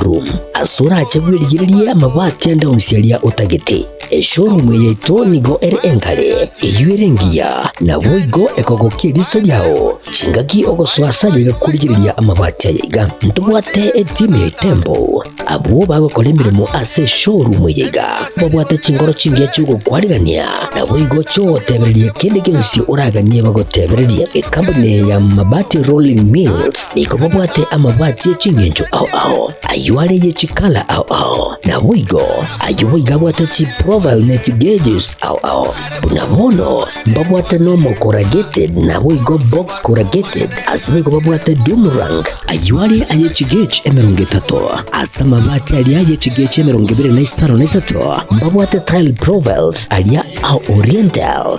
Showroom ase orache bwerigererie amabati ande onsi aria otagete. Eshowroom eye yaito nigo ere enkare, eyio ere engiya, naboigo ekogokia eriso riao chingaki ogosoa ase aye gakorigereria amabati aya iga. Ntobwate etimu ya Itembo, abwo bagokora emeremo ase eshowroom eye iga, babwate chinkoro chingiya chi'ogokwarigania, naboigo chiogotebereria kende gionsi oraganie bagotebererie. Ekampuni ya Mabati Rolling Mills Nigo babwate amabati e ching'encho ao ao, ayio are ye chikala ao ao. Naboigo ayio boigo abwate chiprofile ne chigages ao ao. Buna bono mbabwate nomo corrugated naboigo box corrugated, ase nigo babwate doom rank, ayio are aye chigage emerongo etato. Ase amabati aria ye chigage emerongo ebere na isano na isato mbabwate tile profiles aria a oriental.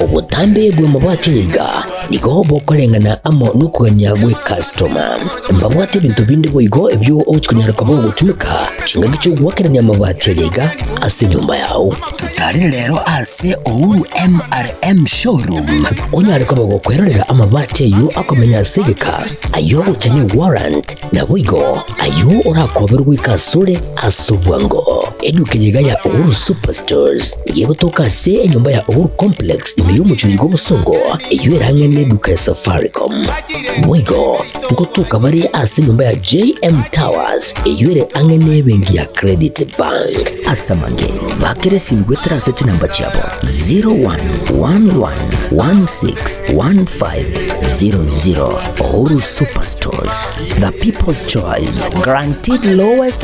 Obotambe bw'amabwato iga nigo bokoreng'ana amo nokogania gwe customer. Mbabwate ebinto binde boigo ebio ochikonyara koba ogotumeka chingaki chi'ogoakerania amabati aria iga ase enyomba yao. Tutarire rero ase Uhuru MRM Showroom onyare koba gokwerorera amabati ayio akomenya ase egeka, ayio ogochania warrant na boigo ayio orakoberwe goika asore ase obwango. Eduka eye iga ya Uhuru Superstores. Eye egotoka ase enyomba ya Uhuru Complex ime y'omochunyi bw'obosongo, eyio erang'ene neduka ya Safaricom. Boigo, ngotoka bare ase enyomba ya JM Towers, eyio ere ang'e n'ebenki ya Credit Bank. Ase amang'enye, bakera esimi goetera ase chinamba chiabo 0111161500. Uhuru Superstores, the people's choice, guaranteed lowest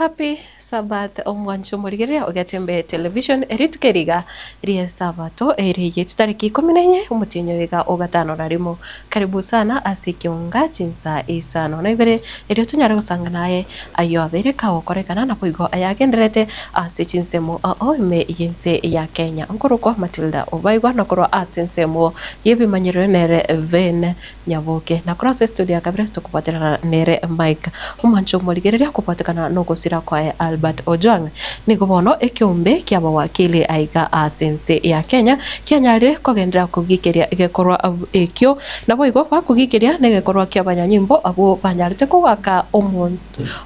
Happy Sabbath omwanche omorigereria ogetembee television rituko eriga ri'esabato ere ye chitariki ikomi na enye omotienyi oyoiga ogatano na rimo. Karibu sana ase ekionga chinsa isano na ibere erio tonyare gosangana aye Ayio abeire kagokorekana naboigo ayagendererete ase chinsemo ao ime y'ense ya Kenya nkorokwa Matilda obaigwa na korwa ase ensemo y'ebimanyerero nere Ben Nyaboke na korwa ase studio ya kabere tokobwaterana nere Mike Omwancho omorigereria kobwatekana nogosira kwaye Albert Ojwang nigo bono ekeombe kiabawakili aiga ase ense ya Kenya kianyarire kogenderera kogikeria egekorwa ekio Naboigo bakogiicheria negekorwa ki'abanyanyimbo abwo banyarete kogoaka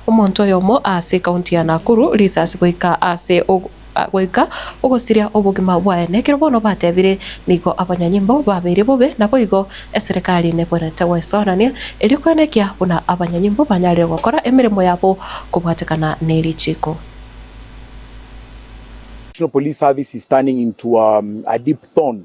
omonto oyomo ase ekaunti ya Nakuru risasi goika ase goika ogosiria obogima bwaye. Nekero bono batebire nigo abanyanyimbo babeire bobe naboigo eserekari nebwenerete goesorania erio kwenekia buna abanyanyimbo banyarire gokora emeremo yabo kobwatekana nerichiiko. National Police Service is turning into a deep thorn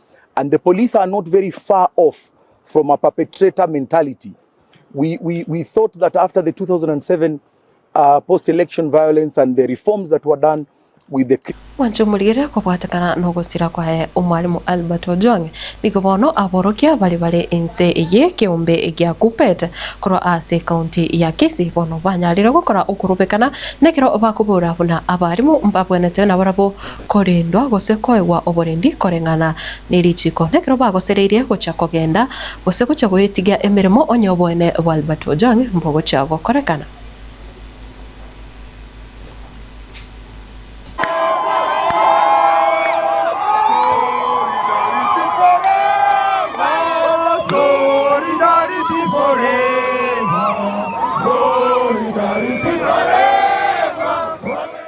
and the police are not very far off from a perpetrator mentality. We, we, we thought that after the 2007 uh, post election violence and the reforms that were done with the Mwanche omorigere kobwatekana nogosira kwaye omwalimu Albert Ojwang nigo bono aborokia bari bare ense eye keombe egia Kuppet korwa ase county ya Kisii bono banyarire gokora okorobekana nekero bakobora buna abarimu mbabwenete nabarabo korendwa gose koegwa oborendi koreng'ana nerichiko, nekero bagosereirie gocha kogenda gose gocha goetigia emeremo, onye oboene bwa Albert Ojwang mbogochia gokorekana.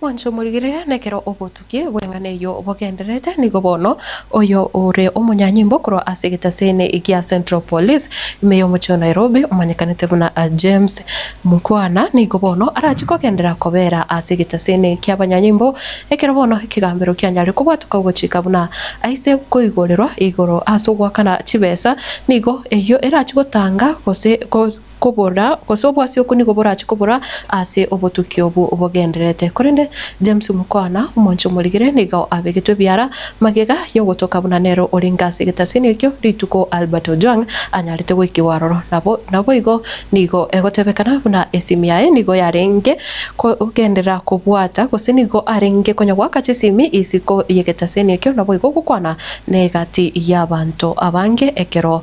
Mwanche omorigereria, nekero obotuki bw'eng'ana eyio bogendererete, nigo bono oyo ore omonyanyimbo korwa ase egetaseni gia Central Police, ime y'omochie o Nairobi, omanyekanete buna James Mukhwana, nigo bono arachie kogenderera kobera ase egetaseni ki'abanyanyimbo, ekero bono ekegambero kianyare kobwateka ogochika buna aise koigorerwa igoro ase ogoakana chibesa, nigo eyio erachie gotanga gose kobora, gose obwasi okwo nigo borache kobora ase obotuki obwo bogendererete. Korende James omokwana, omonche omorigire, nigo abegetwe biara magega y'ogotoka buna nere orenge ase egetasiini ekio rituko Albert Ojwang anyarete goikigwa aroro. Nabo naboigo nigo egotebekana buna esimi yaye nigo yarenge kogenderera kobwata gose nigo arenge konya goaka chisimi isiko y'egetasiini ekio naboigo gokwana n'egati y'abanto abange ekero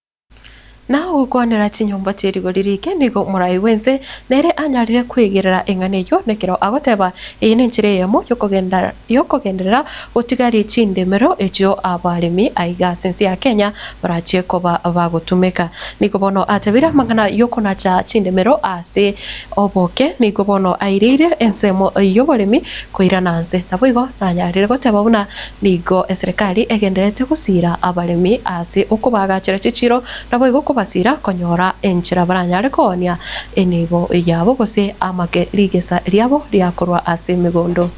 Na ogokwanera chinyomba chie rigori riike nigo morai bw'ense, na ere anyarire kwegerera eng'ana eyio, nekero agoteba, Eye nenchera eyemo y'okogenda y'okogenderera, gotigarie chindemero echio abaremi aiga ase ense ya Kenya barachie koba bagotumeka. Nigo bono atebire amang'ana y'okonacha chindemero ase oboke, nigo bono aireire ensemo y'oboremi koirana nse. Naboigo nanyarire goteba buna Nigo eserekari egendererete gosiira abaremi ase okobaagachera chichiiro, naboigo kobasiira konyora enchera baranyare koonia enibo yabo gose amake rigesa riabo ria korwa ase emegondo.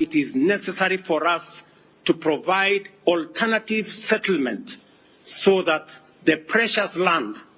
It is necessary for us to provide alternative settlement so that the precious land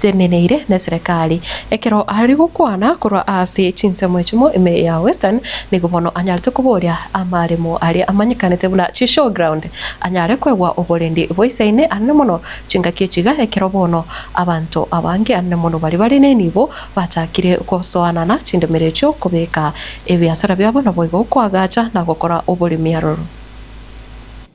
Teneneire neserekari. Ekero ari gokwana korwa ase chinsemo echimo ime ya Western, nigo bono anyarete koboria amaremo aria amanyekanete buna chishowground anyare kwegwa oborendi boisaine anene mono chingaki echiga ekero bono abanto abange anene mono baria bare nenibo bachakire gosoanana chindemero echio kobeka ebiasara biabo naboigo koagacha na gokora oboremi aroro.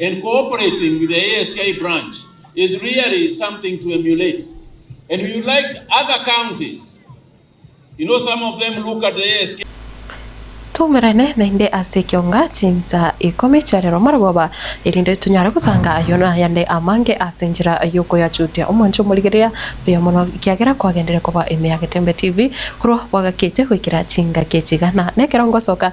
and cooperating with the ASK branch is really something to emulate and we would like other counties you know some of them look at the ASK Toumerane naende ase ekionga chinsaa ikomi chia rero marogoba, erinde tonyare gosanga ayo na ayande amange ase enchera y'okoyachutia omwancho omorigereria buya mono, ekiagera kwagenderire koba emeagete embe TV korwa bwagakiete goikera chingaki chigana nekerongo soka.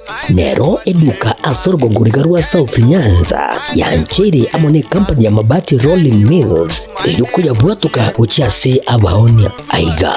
Nero eduka ase orogongo riga rwa South Nyanza yancheire amo ne company ya Mabati Rolling Mills erio koyabwatoka gochia ase abaoni. Aiga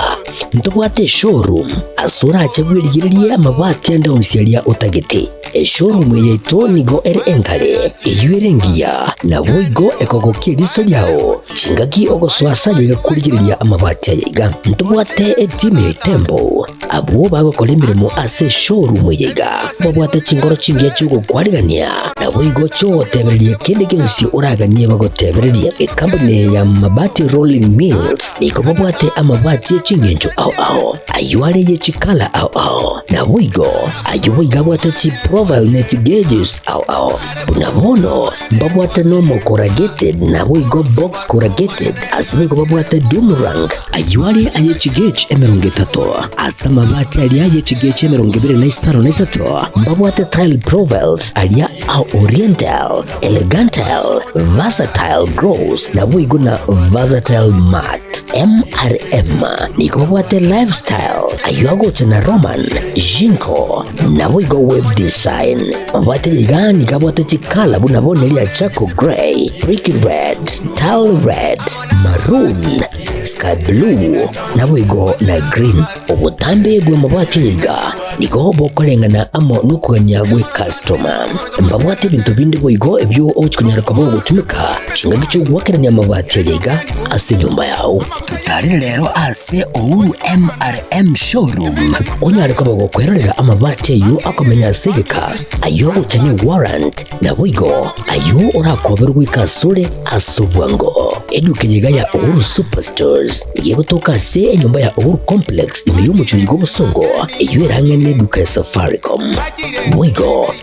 ntobwate eshowroom ase orache bwerigererie amabati ande onsi aria otagete. Eshowroom yaito nigo ere engare, eyio ere engiya, naboigo ekogokia eriso riao. Chingaki ogosoa ase ayio igakorigereria amabati aya iga, ntobwate etimu ya etembo. Abwo bagokora emeremo ase eshowroom eye iga, babwate chinkoro chingiya chi'ogokwanigania, naboigo chi'ogotebereria kende gionsi oraganie bagotebererie. Ekampuni eye ya Mabati Rolling Mills nigo babwate amabati e chingencho ao ao, ayio are ye chikala ao ao, naboigo ayio boigo abwate chiprofile na echigauges ao ao. Buna bono Mbabwate Normal Corrugated naboigo Box Corrugated ase boigo babwate Doom Rang ayio are aye chigechi emerongo etato ase amabati aria aye chigechi emerongo ebere na isano na isato mbabwate Tile Profiles aria a Oriental, Elegantile, Versatile Grows naboigo na Versatile Mat. MRM nigo babwate Lifestyle ayio agocha na Roman, Jinko naboigo Web Design. Obwate rigani gabwate chikala buna bone ria charcoal grey, brick red, dull red, maroon, sky blue, naboigo na green. Obotambe bwe mabati niga nigo bokoreng'ana amo nokogania gwe customer. Mbabwate ebinto binde boigo ebio ogochikonyara koba ogotumeka chingaki chi'ogoakerania amabati aria iga ase enyomba yao. Totarire rero ase Uhuru MRM Showroom. Onyare koba gokwerorera amabati ayio akomenya ase egeka, ayio ogocha ne warrant, naboigo ayio orakoberwe goika asore ase obwango. Eduka eye iga ya Uhuru Superstores nigo egotoka ase enyomba ya Uhuru Complex ime y'omochie oyiga obosongo, eyio erang'ene ne eduka ya Safaricom. Boigo